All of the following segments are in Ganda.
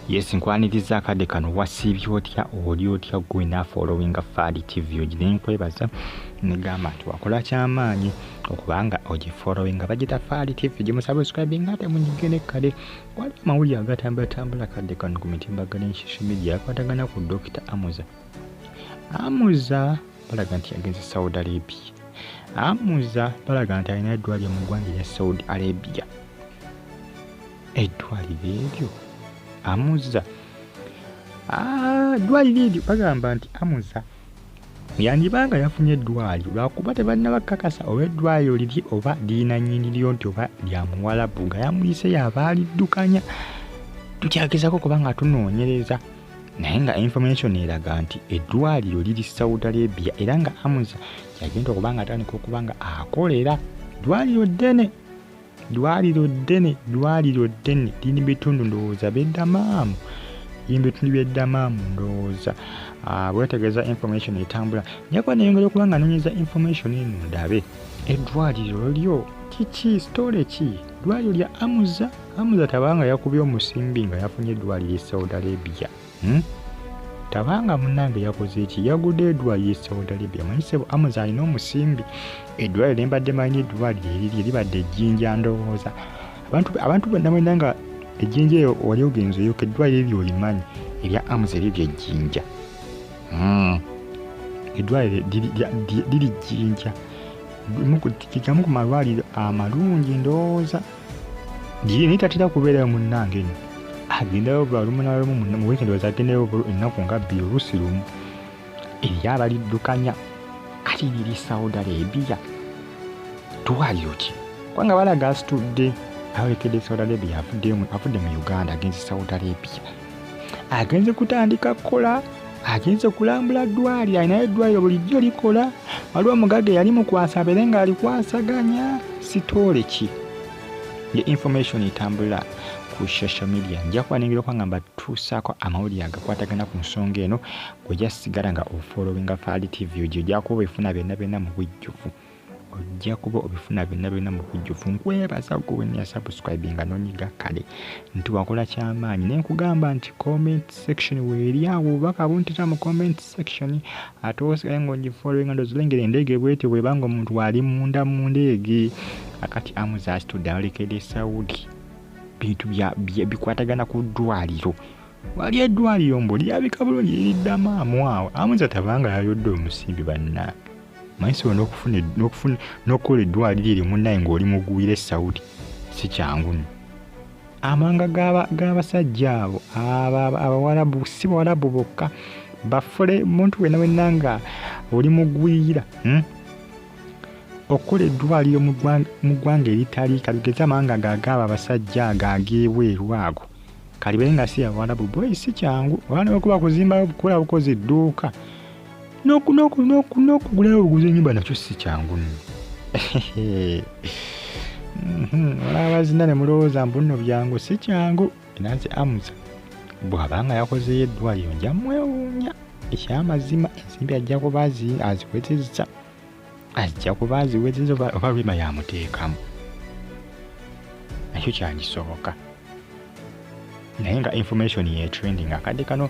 Yes, nkwaniriza akade kano wasiibye otya oli otya gwe na following Fadi TV ogire nkwebaza negamba nti wakola kyamaanyi okubanga ogifollowing bagita Fadi TV gimusubscribing ate munyige ne kade waliwo amawulire agatambulatambula kadde kano ku mitimbagano enshisha media akwatagana ku Dr. Amuza Amuza balaga nti yagenze Saudi Arabia Amuza balaga nti alina eddwaliro mu ggwanga erya Saudi Arabia eddwaliro eryo amuza ah, eddwaliro eryo bagamba nti amuza yandiba nga yafunye eddwaliro lwakuba tebalina bakakasa oba eddwaliro liri oba lirina nyiniryo nti oba lya muwalabu nga yamuyise yaba aliddukanya tukyagezako kuba nga tunoonyereza naye nga information eraga nti eddwaliro liri saudi arabia era nga amuza yagenda okuba nga atandika okuba nga akolera ddwaliro ddene ddwaliro ddene ddwaliro ddene liri bitundu ndowooza beddamaamu liri bitundu byeddamaamu ndowooza ah, bwetegeeza information etambula nyeko neyongera okuba nga nonyeza information eno ndabe eddwaliro lyo kiki sitole ki ddwaliro lya amuza amuza tabanga yakubye omusimbi nga yafunye eddwaliro e saudi arabia hmm? tabanga munange yakoze eki yagude edwali ye saudi arabia manyi sebo amuza alina omusimbi edwali lembadde manyi edwali eriri libadde ejjinja ndowooza abantu bonna mwena nga ejjinja eyo wali ogenza oyoka edwali ebyo olimanyi erya amuza eryo lyejjinja hmm. edwaliro liri jjinja kigamu ku malwaliro amalungi ndowooza Jini tatira kubeerayo munnange nyo agendayo balumu nalumu mu weekend was agendayo ennaku nga bbiri oluusi lumu eri abaliddukanya kati liri saudi arabia twaliro ki kubanga balaga asitudde ayolekedde saudi arabia avudde mu uganda agenzi saudi arabia agenze kutandika kukola agenze kulambula ddwali alinayo eddwaliro bulijjo likola waliwo omugaga eyali mukwasa abeere nga alikwasaganya sitoole ki ye information etambula ku social media nja kubanengera okwangamba tuusaako amawulire agakwatagana ku nsonga eno gwejasigala nga ofolowinga faali tv ojo ojakuba efuna byonna byonna mu bujjuvu ojja kuba obifuna byonna byonna mu bujjuvu nkwebaza gwe wenna yasubscribinga nonyiga kale nti wakola kyamaanyi naye nkugamba nti comment section weeri awo obubaka buntita mu comment section ate osigaye ngaogifollowinga ndozilengera endeege bwetyo bwebanga omuntu waali munda mu ndeege akati amuzasitudde alekede saudi bintu bikwatagana ku ddwaliro wali eddwaliro mbu lyabika bulungi liridda maamu awo amuza tabanga yayodde omusimbi bannange manyisobola n'okufuna n'okufuna n'okukola eddwaliro eryo munnaye ng'oli mugwira esawudi si kyangu nyo amanga g'abasajja abo abawarabu si bawarabu bokka bafule muntu wena wenna nga oli mugwira hmm? okukola eddwaliro mu ggwanga eritali kalugeze amanga gagaaba abasajja ago ag'ebweru ago kalibe nga si abawarabu boyi si kyangu oba newekuba kuzimbayo bukola bukozi dduuka n'okugulayo obuguzi enyumba nakyo si kyangu nno mhm, olabazina ne mulowooza mbu nno byangu si kyangu enansi amusa bw'abanga yakozeyo eddwaliro nja mwewuunya ekyamazima ensimbi ajja kuba azikwetezisa ajja kuba aziwezinza oba rima yamuteekamu nakyo kyagisoboka naye nga information yetrending akadde kano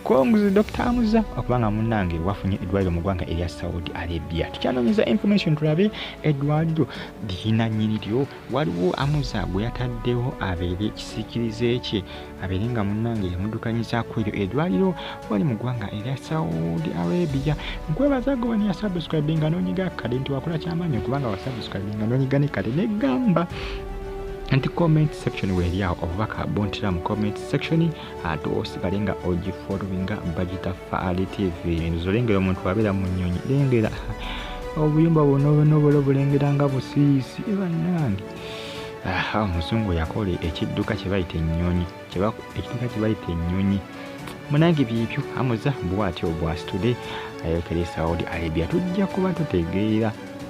congs dr amuza okuba nga munange wafunye eddwaliro mu ggwanga erya saudi arabia tukyanonyeza information tulabe eddwaliro liyina nyini lyo waliwo amuza gwe yataddewo abeere ekisikirize kye abeere nga munnange yamuddukanyizaako eryo edwaliro wali mu ggwanga erya saudi arabia nkwebaza gobani ya subscribe nga nonyiga kade nti wakola kyamaanyi okubanga wa subscribe nga nonyiga ne kade negamba nti comment section weeryawo obubaka buntira mu comment section ate osigale nga ogifolowinga bagita faali tv enzo lengera omuntu abeera mu nnyonyi lengera obuyumba buno buno bulo bulengera nga busiisi ebanange aha omuzungu yakola ekidduka kyebayita ennyonyi ekidduka kyebayita ennyonyi munange byebyo amuza bwati obwasitude ayokera esaudi arabia tujja kuba tutegeera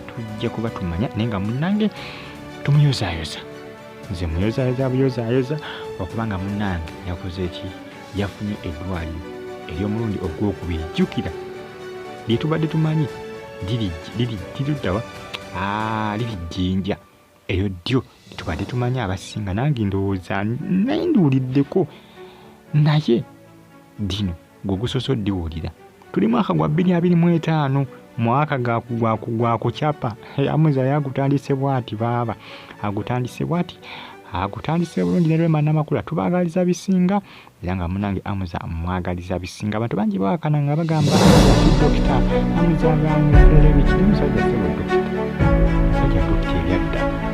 tujja kuba tumanya naye nga munange tumuyozayoza nze muyozayoza buyozayoza okuba nga munange yakoze eki yafunye eddwaliro ery'omulundi ogwokubiri jjukira lye tubadde tumanyi liriddawa liri jjinja eryo ddyo tubadde tumanyi abasinga nange ndowooza naye ndiwuliddeko naye dino gwe gusoosa oddiwulira tuli mwaka gwa bbiri abiri mu etaano mwaka gwakucapa amuza ye agutandise bwati baaba agutandise bwati agutandise bulungi nerema namakula tubagaliza bisinga era nga munange amuza mwagaliza bisinga abantu bangi bawakana nga bagamba dokita amuza nga amuza ebiki musajja sebo dokita musajja dokita ebyadda